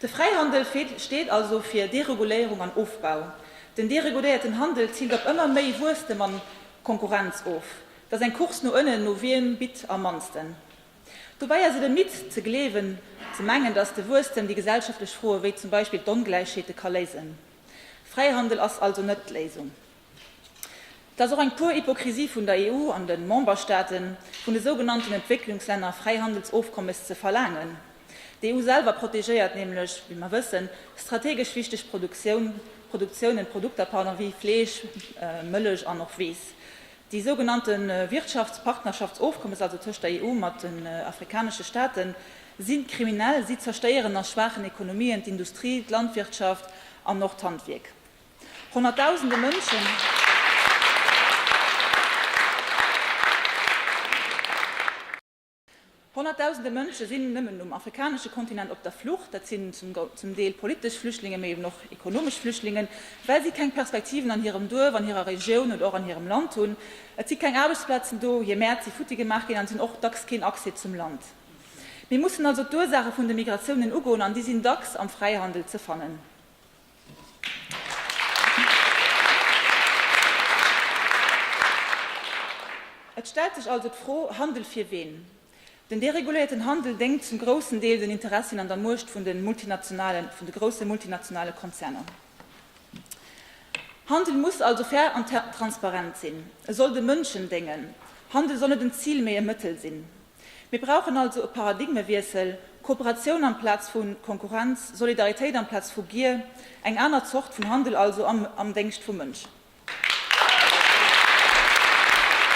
De Fräihandel steet also fir Dereguléierung an Ofbau. Den deregudéierten Handel ziilt op ëmmer méi Wuesstem an Konkurrenz of. Et ass eng Course no ënnen, no wiem bitt am mannsten. Dobäi ass et e Myth ze gleewen, ze mengen, datt de Wuesstem déi gesellschaftlech Froe wéi zum Beispill d'Ongläichheete ka léisen. Fräihandel ass also net d'Léisung. Et ass och eng pure Hypokrisie vun der EU an de Memberstaaten, vun de sougenannten Entwécklungslänner Fräihandelsofkommes ze verlaangen. D'EU selwer protegéiert nämlech, wéi mer wëssen, strategesch wichteg Produktioun, Produktiounen, Produkter, pardon, wéi Fleesch, Mëllech an och Weess. Déi sougenannte Wirtschaftspartnerschaftsofkommes, also tëscht der EU mat den afrikanesche Staate si kriminell. Si zerstéieren a schwaachen Ekonomien d'Industrie, d'Landwirtschaft an och d'Handwierk. Honnertdausende Mënschen Honnertdausende Mënsche sinn nëmmen um afrikanesche Kontinent op der Flucht. Dat sinn zum Deel politesch Flüchtlinge, mee eben och ekonomesch Flüchtlingen, well si keng Perspektiven an hirem Duerf, an hirer Regioun oder och an hirem Land hunn. Et si keng Aarbechtsplazen do, hir Mäert si futti gemaach ginn an si hunn och dacks keen Accès zum Land. Mir mussen also d'Ursaache vun de Migratiounen ugoen an déi sinn dacks am Fräihandel ze fannen. Et stellt sech also d'Fro, Handel fir ween? Den dereguléierten Handel déngt zum groussen Deel den Interessien an der Muecht vun de multinationalen, vun de grousse multinationale Konzerner. Handel muss also fair an transparent sinn. E soll de Mënschen déngen. Handel soll net en Zil, mee e Mëttel sinn. Mir brauchen also e Paradigmewiessel, Kooperatioun amplaz vu Konkurrenz, Solidaritéit amplaz vu Gier, eng aner Zort vun Handel also am Déngscht vum Mënsch.